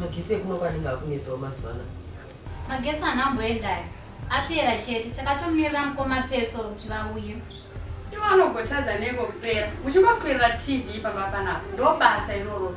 magetsi ekuno kwanenge akunesawo mazuva ano magetsi hana amboendaya apera chete takatomirira mukoma petso kuti vauye ivo anogotadza neko kupera muchingoswerera tv pamba panapa ndobasa iroro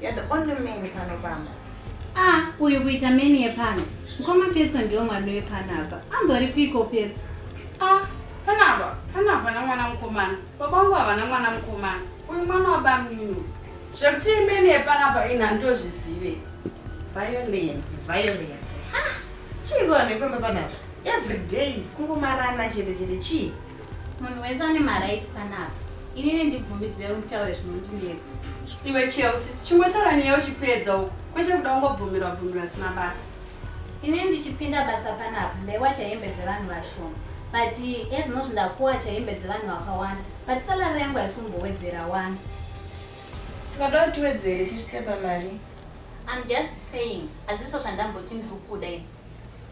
You're the only man pano pamba. Ah, uyu kuita meni yepano. Mkoma Petso ndiwo mwana wepano apa. Ambori piko Petso? Ah, pana apa. Pana apa na mwana mkomana. Baba wangu havana mwana mkomana. Uyu mwana wa bamnini. Zvekuti meni yepano apa ina ndozvizive. Violence, violence. Ha! Chii kona nepamba panapa? Every day kungomarana chete chete chii? Munhu wese ane marights panapa. Inini ndibvumidzei mutaure zvinondinetsa. Iwe Chelsea, chingotaura nyaya uchipedza uko. Kwete kuda kungobvumirwa bvumirwa sina basa. Inini ndichipinda basa panapa ndaiwacha hembe dzevanhu vashoma. But ezvinozvi ndakuwacha hembe dzevanhu vakawanda. But salary yangu haisi kumbowedzera wani. Tikada kuti tiwedzere tichitepa mari. I'm just saying hazviso zvandamboti ndiri kuda ini.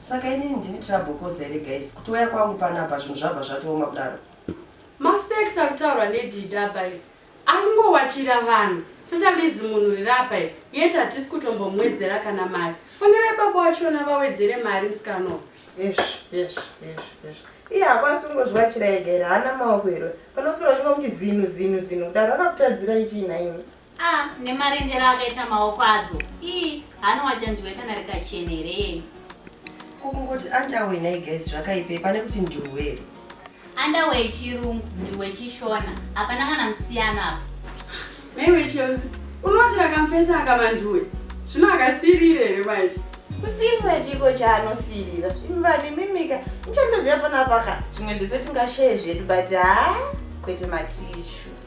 Saka inini ndini trouble cause here guys? Kuti waya kwangu panapa zvinhu zvabva zvatooma kudaro. Ma facts ari kutaurwa nedidi apa iri akungowachira vanhu specialize munhu riri apa iri yet hatisi kutombomwedzera kana mari. Fonerai baba wachona vawedzere mari musikana uyu. Yes, yes, yes, yes. Iye hakwasi kungozviwachira ega here haana maoko here? Panoswera uchingomuti zinu zinu zinu kudaro akakutadzira ichii nhaimi? Ah, nemarendero akaita maoko adzo. Ii, hano wachandiwe kana rikachene here yeye. Kungoti underwear nhai guys zvakaipe pane kuti nduwe. Underwear yechirungu, nduwe chishona. Hapana kana musiyano apa. Maiwe Chelsea, unoti rakamfesa akamanduwe. Zvino akasirire here manje. Kusirira chiko chaanosirira. Imi vanhu imimika, nichandoziva panapa ka. Zvimwe zvese tingashaye zvedu but haa kwete matishu.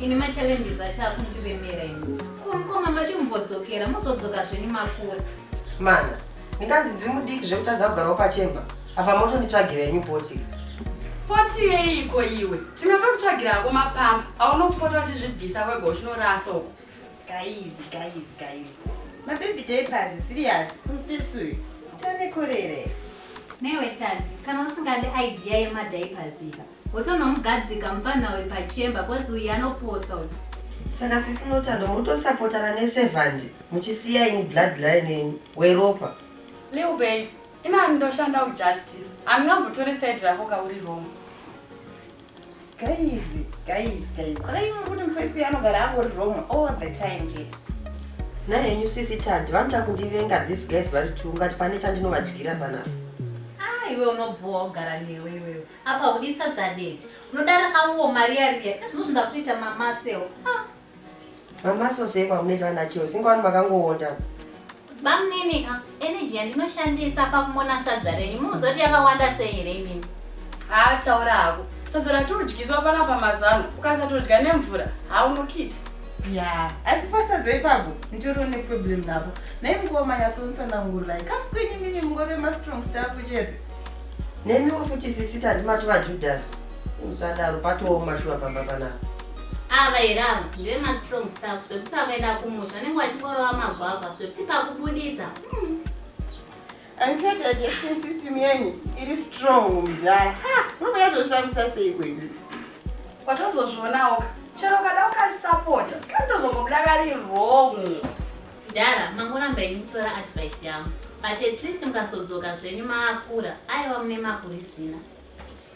ini machallenges acho akundiremera ini kumkoma madi mumbodzokera mozodzoka zvenyu makura mana ndinganzi ndiri mudiki zvekutadza kugarawo pachemba apa motonditsvagira yenyu poti poti yeiko iwe tina tokutsvagira ako mapamba aunopota uchizvibvisa wega uchinorasa uko guys guys guys mababy daypers serious mfisuyu tanekorere newe tandi kana usingadi idea yemadaypers iva Wotonomugadzika mupfanha uyu pachemba coz uyu anopotsa uyu. Saka sisi Notando motosapotana ne servant muchisiya ini blood line yenyu weropa. Lil babe inani ndoshandawo justice handingambotore side rako ka uri wrong. Guys guys guys saka imi muri kuti mufesi uyu anogara angori wrong all the time chete. Nhai henyu sisi Tadi vanoita kundivenga these guys vari two ungati pane chandinovadyira panapa. Ah iwe unobhowa kugara newe iwewe. Apa udi sadza date. Unoda rakawo mari yariya. Zvino zvindakuita mama seo. Ah. Mama so sei kwamunoita ana cheo. Singa wani makangoonda. Bamnini ka energy yandinoshandisa pakumona sadza renyu. Muzoti yakawanda sei here imimi? Ah, taura hako. Sadza ratodyiswa pana pamazano. Ukasatodya nemvura, haunokiti. Yeah. Asi pasadza ipapo nditori ne problem napo. Nei mukoma yatsonsanangurira. Kasi kwenyu mimi mungori ma strong stuff chete. Nemiwo futi sisi tandi matova Judas. Musadaro patooma shuwa pamba panapa. Ava here ava ndive mastrong staff zvekuti akuenda kumusha vanenge vachingorova magwavha zvekuti pakubuditsa. Hmm. I'm sure the digestion system yenyu iri strong mudhara. Ha, mama yazoshamisa sei kwedu. Watozozvionawo ka. Chero kada ukasapota, kani tozongobuda kari wrong. Mdara mangoramba ini kutora advice yangu but at least mukasodzoka zvenyu maakura aiwa mune makurizina.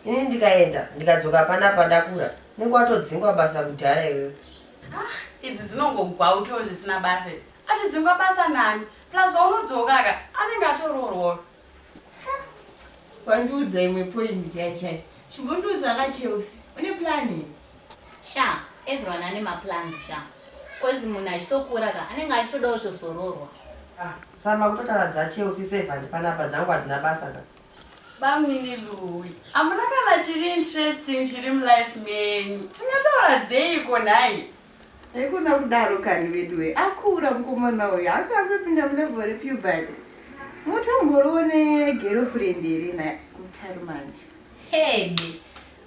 Ini ndikaenda ndikadzoka pana pandakura unenge watodzingwa basa kudhara iwewe. Ah, idzi dzinongogwauto zvisina basa. Achidzingwa basa nani? Plus paunodzoka ka anenge atoroorwa. Wandiudza imwe point chai chai. Chimbondiudza ka Chelsea. Une plan here? Sha, everyone ane ma plans sha. Cause munhu achitokura ka anenge achitoda kutozororwa. Ah, Sama kutotaura dza Chelsea servant panapa dzangu hadzina basa ka. Bamnini Louie, hamuna kana chiri interesting chiri mulife menyu. Tingataura dzeiko nhai? Haikona kudaro kani veduwe akura mukomana uyu haasi akupinda mulevel repuberty mutomboroone girlfriend here na mutari manje. Hede.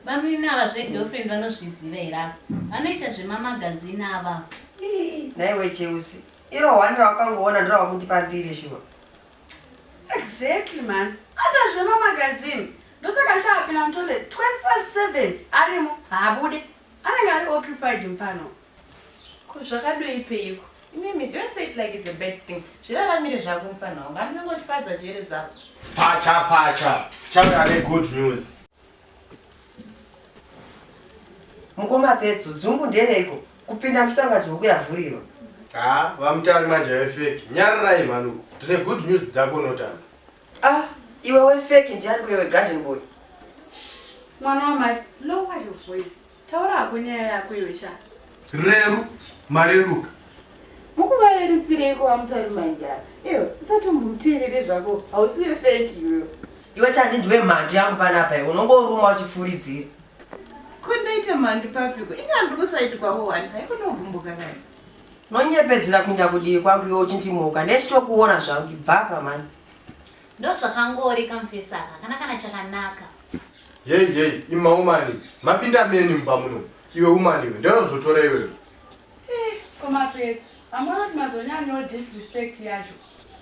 Bamnini ava zve girlfriend vanozviziva here ava. Vanoita zvema magazine ava ava. Ii nhaiwe Cheusi iro one rawakangoona ndorawakundipa mbiri shuwa. Exactly mhani ata zvema magazine ndosaka ashaapinda mutoilet 24 7 arimo haabude. Anenge ari occupied mfana uyu. Ko zvakadoi peiko. Imimi don't say it like it's a bad thing. Zviraramire zvako mfana wangu. Handi unongotifadza njere dzako. Pacha pacha. Chave ane good news. Mukoma Petso, dzungu ndereiko? Kupinda mutangati huku yavhurirwa. Haa, vamutari manje vefeki. Nyarirai mhani uko. Tine good news dzako unotanga. Ah, iwe we fake ndiani kuye we garden boy? Mwana wamai, lower your voice. Taura hako nyaya yako iwe sha. Reru, mareruka. Mukuvarerutsireiko vamutarima njara? Iwe usatombomteerere zvako, hausi we fake iwe. Iwe tandi ndiwe mhandu yangu panapa iwe unongoruma uchifuridzira. Ko ndaita mhandu papiko? Inga ndiri kusaidi kwavo wani, haiko ndogumbuka kani. Nonyepedzera kuinda kudivi kwangu iwe uchindimoka nechitokuona zvangu ibvapa mani. Ndozvakangori kamfesa aka kana kana chakanaka. Yei yei ima umani mapinda meni mumba muno iwe umani iwe ndoyozotora iwewe. Eh, koma petso hamuna kuti mazonyanyawo disrespect yacho.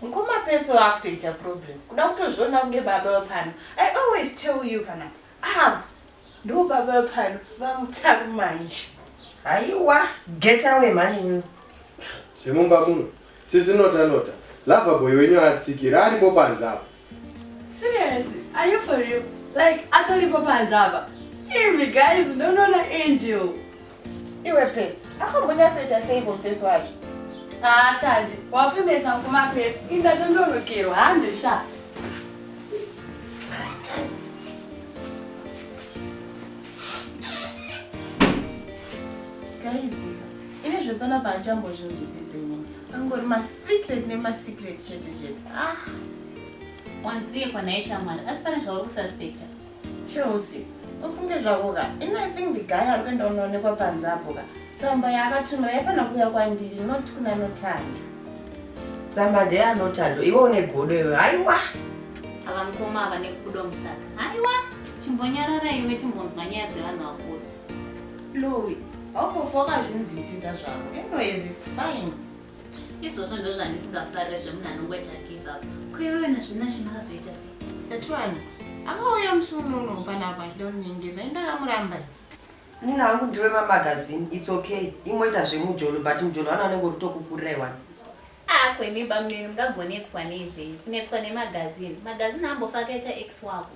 Mkoma petso vakutoita problem kuda kutozviona kunge baba wepano. I always tell you kana ah Ndo baba pano vamutaru manje. Haiwa get away mhani iwewe. Zvemumba muno sisi nota nota lover boy wenyu atsikira aripo panze apa. Serious? Are you for real? Like atoripo panze apa? Imi guys ndonoona angel. Iwe Pets, akambonyatsoita sei confess wacho? Haa Tandi, watonetsa mukoma Pets, inda tondonokerwa hande sha. Guys, ini zvepana paachambozvinzwisise nini. Angori masecret nemasecret chete chete. Ah. Wanzii kwanaye shamwari, asi pane zvauri kususpecta. Chelsea ufunge zvako ka ini i think the guy ari kuenda unoonekwa panze apo ka tsamba yaakatumira yaifanira kuuya kwandiri not kuna notando tsamba ndeyanotando iwe une godo iwe haiwa ava mukoma ava nekubuda musaka haiwa chimbonyarara iwe timbonzwa nyaya dzevanhu vakuru louis wakofa wakazvinzwisisa zvako anyways its fine Izvozvo ndozvandisingafarire zvemunhu anongoita give up. Ko iwewe nazvinashe makazoita sei? Etwana akauya musi uno uno panapa achida kunyengera dai ndakamuramba. Nina hangu ndiri wemamagazini its okay imoita zvemujolo but mujolo vana vanenge uritokukurira iwani. Ah ko imi bamnini mungagonetswa nei zvenyu kunetswa nemagazini. Magazini haambofa akaita ex wako.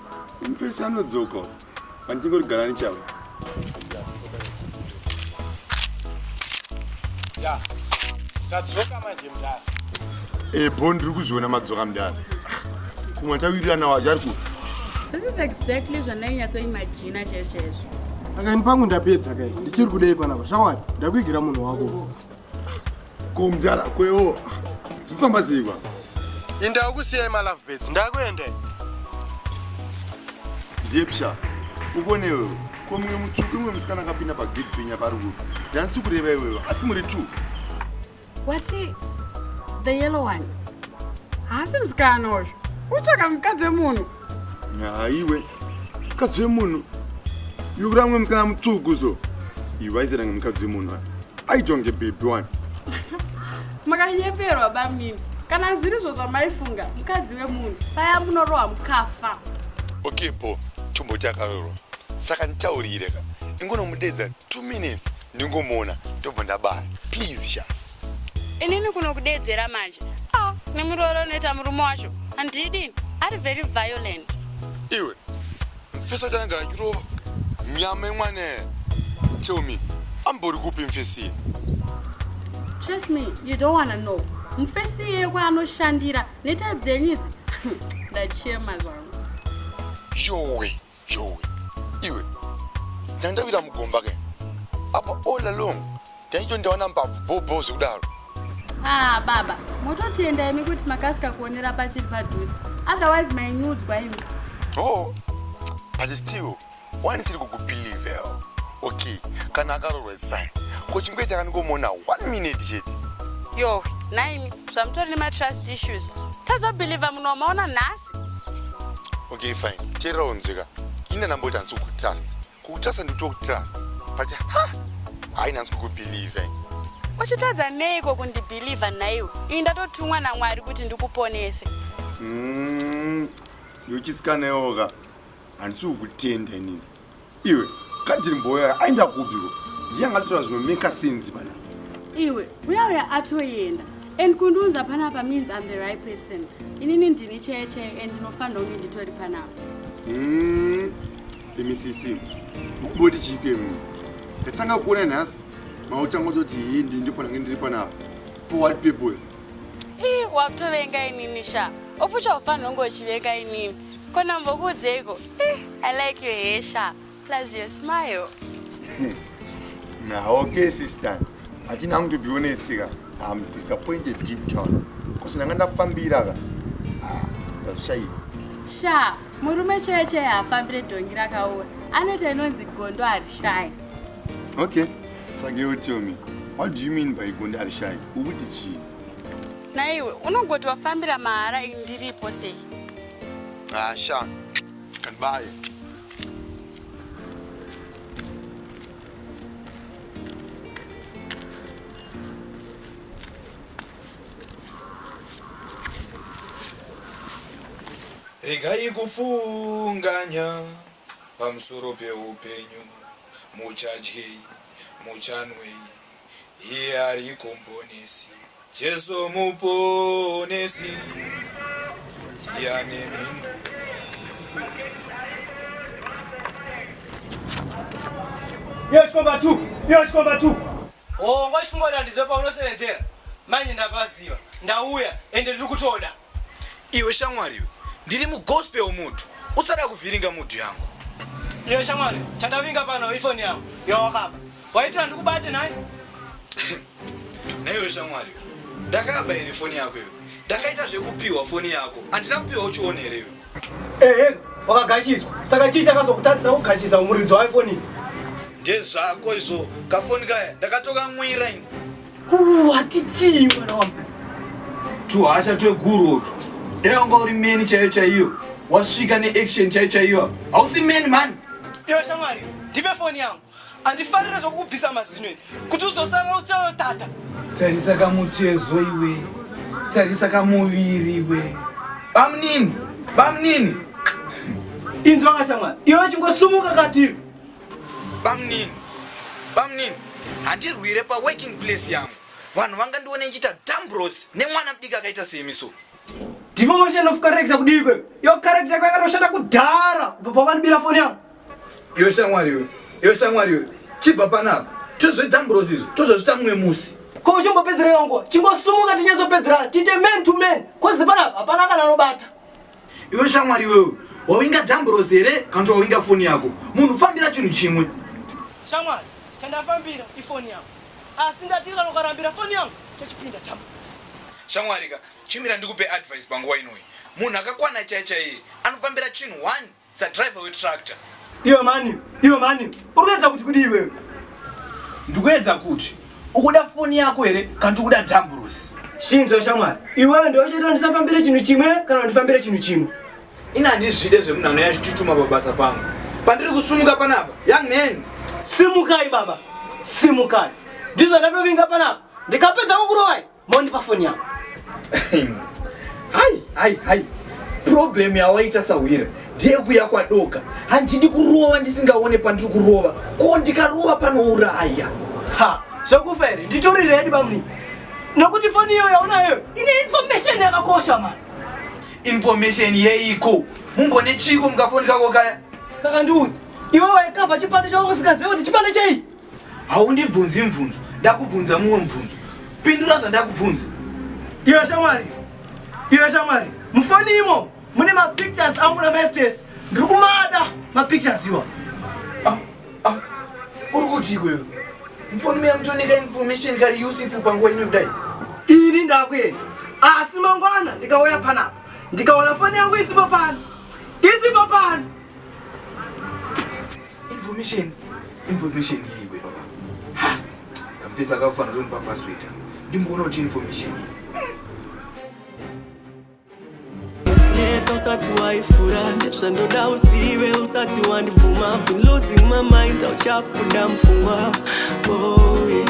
Mpesa anodzoka handingori gara nechavo tadzoka manje mdara ebho ndiri kuzviona madzoka mdara kumwe tawirirana wacho ari ku this is exactly zvandainyatsooimajina chaizvo chaizvo akaini pangu ndapedza kai ndichiri kudei panapa shawari ndakuigira munhu wako Ko mdara kweo zvifamba sei kwa? Inda ukusiyai ma love birds ndakuenda. Ndiye psha. Ubone wewe. Ko mwe mutsvuku mwe musikana akapinda pa gate pinya pari ku. Dansi kureva iwewe asi muri two. What's he? The yellow one. Haasi musikana uyu. Utsvaka mukadzi wemunhu. Haiwe mukadzi wemunhu yuramwe mukana mutsvuku so ivaiziranga mukadzi wemunhu aitonge bhebhi wani makanyeperwa bamini kana zviri zvo zvamaifunga mukadzi wemunhu paya munorohwa mukafa okay bo tomboti akarorwa saka nditaurire ka ingonomudedza two minutes ndingomuona ndobva ndabaya please sha inini kuno kudeedzera manje ah, nemuroora unoita murume wacho handidi ari very violent iwe mfesi wacho anenge achirova nyama yemwana tell me ambori kupi mfesi trust me you don't wanna know mfesi iye kwaanoshandira netype dzenyu idzi ndachema zvangu yowe Joe iwe ndandawira mugomba ke apa all along ndaito ndaona mbabvu bhobho zvekudaro ah baba mototenda imi kuti makasika kuonera pachiri padhuze otherwise mainyudzwa imi oh but still wani siri kukubelieve okay kana akarorwa its fine ko chingoita kaningomona one minute chete yohwe nhaimi zvamutori nematrust issues tazobelieve munhu wamaona nhasi okay fine teerera unzwika ini ndandamboita hansi kukutrust kukutrust handikuti kutrust but ha haina hansi kukubelieve eh. uchitadza neiko kundibelieve nhaiwe ini ndatotumwa namwari kuti ndikuponese mm, yochiskaneoka handisi kukutenda inini Iwe kadhiri mboya aenda kubiko ndiye angatotora zvino make sense pana. Iwe uya uya atoyenda and kundiunza panapa means I'm the right person. Inini ndini cheye cheye and ndinofanira kunge nditori panapa. Mm. Imi sisi. Mukuboti chike mimi. Ndatanga kuona nhasi. Mautanga kuti hii ndi ndifana ngendiri panapa. For what purpose? Ii wakutovenga inini sha. Ofucha ufanira kunge uchivenga inini. Ko ndambokuudzeiko? I like your hair sha. Plus your smile. Now, okay, sister. I think I'm to be honest, ka. I'm disappointed deep down. Because ndanga ndafambira ka. Ah, ndashaiwa. Sha, murume chaiye chaiye haafambire dhongi rakaora. Anoita inonzi gondo harishayi. Okay. Saka you tell me. What do you mean by gondo harishayi? Ukuti chii? Naiwe unogoti wafambira mahara ini ndiripo sei? Ah, Sean, can buy it. regai kufunganya pamusoro peupenyu muchadyei muchanwei Iye ari komponesi, Jesu muponesi, iye ane mhindu. Iyo chikomba tu, iyo chikomba tu. Hongo chikungoda ndizive paunosevenzera manje ndapaziva ndauya ende ndiri kutoda. Iwe shamwari iwe ndiri mugospel mudhu usada kuvhiringa mudhu yangu. Iwe shamwari chandavinga pano ifoni yangu yawakaba waitira ndikubate nhai. Naiwe shamwari ndakaba here foni yako iwe ndakaita zvekupiwa foni yako handina kupiwa uchiona here iwe. Ehe wakagashidzwa saka chii chakazokutadzisa kugashidza muridzo waifoni. Ndezvako izvo kafoni kaya ndakatokamwira ini. Hatichii mwana wangu. Tuhasha tweguru utwo. Dai wanga uri meni chaiyo chaiyo. Wasvika neaction chaiyo chaiyo. Hausi meni mani. Iwe shamwari, ndipe foni yangu. Andifarira zvokukubvisa mazino iri. Kuti uzosara ucharo tata. Tarisa kamutezo iwe. Tarisa kamuviri iwe. Bamnini, bamnini. Inzwa kashamwari. Iwe chingosumuka katiri. Bamnini, bamnini, handirwire pa working place yangu. Vanhu vanga ndione nchita dambros nemwana mdiki akaita semi so. Demotion of character kudii kwe? Yo character kwa yakatoshata kudhara kubva pawanibira foni yangu. Yo shamwari yo, yo shamwari yo. Chibva panapa, tozve dambros izvo, tozozvita mumwe musi. Ko uchimbopedzera yangu, chingosumuka tinyatsopedzerana, tite man to man. Ko zipanapa hapana kana anobata. Iwe shamwari iwewe wawinga dzamburosi here kana kuti wawinga foni yako? Munhu fambira chinhu chimwe. Shamwari, chandafambira ifoni yangu asi ndati kana ukarambira foni yangu tochipinda tamburosi. Shamwari ka, chimira ndikupe advice panguva inoi. Munhu akakwana chaiye chaiye anofambira chinhu one. Sa driver we tractor. Iwe mani, iwe mani. Urikuedza kuti kudi iwe. Ndikuedza kuti ukuda foni yako here kana ndikuda damburusi. Shinzwa shamwari. Iwe ndiwe uchita ndisafambire chinhu chimwe kana ndifambire chinhu chimwe. Ina handizvide zvemunhu anouya achitutuma pabasa pangu. Pandiri kusumuka panapa. Young man. Simukai baba. Simukai. Ndizvo ndatovinga panapa. Ndikapedza kukurovai. Moni pafoni yako. Hai, hai, hai. Problem yawaita sahwira ndeyekuya kwadoka. Handidi kurova ndisingaone pandiri kurova. Ko ndikarova panouraya. Ha, zvakufa here? Nditori ready bamni. Nokuti foni iyo yaunayo ine information yakakosha ma. Information yeiko? Mumbone chiko mukafoni kako kaya. Saka ndiudze. Iwe waikava chipande chako usikazive kuti chipande chei? haundibvunzi mvunzo ndakubvunza mumwe mubvunzo pindura zvandakubvunza iwe shamwari iwe shamwari mufoni imo mune mapictures angu namestes ndiri kumada mapictures iwa ah, ah, uri kuti ikweyo mufoni muya mutonika information kari usifu panguva ino kudai ini ndakuenda asi mangwana ndikauya panapa ndikaona foni yangu isipo pano isipo pano Information, information yei we baba? Ha! Kamfisa kakufa ndotoni pa password. Ndimboona kuti information yei. Usinetsa usati waifura ndezvandoda uzive usati wandibvuma I've been losing my mind auchabuda mfungwa oh, yeah.